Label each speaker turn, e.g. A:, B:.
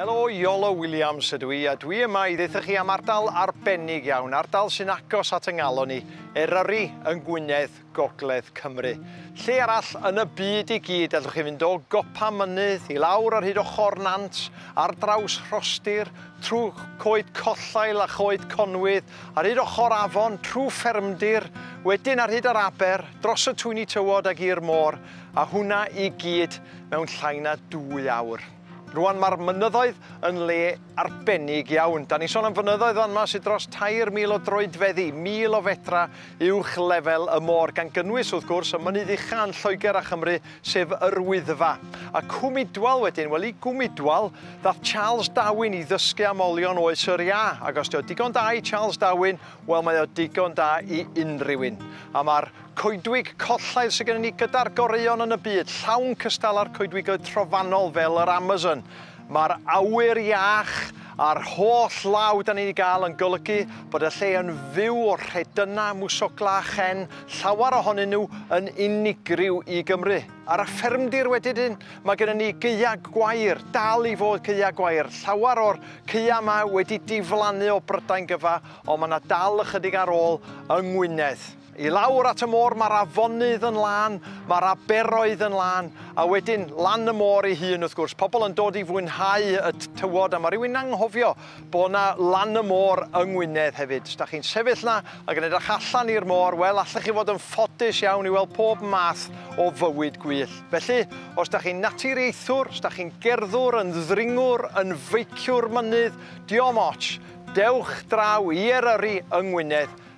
A: Helo, Iolo Williams ydw i, a dwi yma i ddeitha chi am ardal arbennig iawn, ardal sy'n agos at y ngalon ni, Eryri yng Ngwynedd, Gogledd Cymru. Lle arall yn y byd i gyd allwch chi fynd o gopa mynydd i lawr ar hyd ochr nant, ar draws rhostir, trwy coed collail a choed conwydd, ar hyd ochr afon, trwy ffermdir, wedyn ar hyd yr aber, dros y twyni tywod ac i'r môr, a hwnna i gyd mewn llai na dwy awr. Rwan mae'r mynyddoedd yn le arbennig iawn. Da ni'n sôn am fynyddoedd fan yma sydd dros 3,000 o droedfeddi, 1,000 o fedra uwch lefel y môr, gan gynnwys, wrth gwrs, y mynydd ucha yn Lloegr a Chymru, sef Yr Wyddfa, a Cwmidwal wedyn, wel i Gwmidwal ddath Charles Darwin i ddysgu am olion oes yr iâ, ac os 'di o digon da i Charles Darwin, wel mae o digon da i unrhyw un. A mae'r coedwig collaidd sydd gennym ni gyda'r goreuon yn y byd, llawn cystal â'r coedwigoedd trofannol fel yr Amazon, Mae'r awyr iach a'r holl law dan ni'n ei gael yn golygu bod y lle yn fyw o rhedynnau, mwsoglau a chen, llawer ohonyn nhw yn unigryw i Gymru. Ar y ffermdir wedyn, mae gennym ni gaeau gwair, dal i fod caeau gwair. Llawer o'r caeau yma wedi diflannu o Brydain gyfa, ond mae yna dal ychydig ar ôl yng Ngwynedd. I lawr at y môr mae'r afonydd yn lân, mae'r aberoedd yn lân, a wedyn lan y môr ei hun wrth gwrs. Pobl yn dod i fwynhau y tywod a mae rhywun anghofio bod yna lan y môr yng Ngwynedd hefyd. Os da chi'n sefyll yna ac yn edrych allan i'r môr, wel allech chi fod yn ffodus iawn i weld pob math o fywyd gwyllt. Felly, os da chi'n naturiaethwr, os da chi'n gerddwr, yn ddringwr, yn feiciwr mynydd, diom ots, dewch draw i Eryri yng Ngwynedd,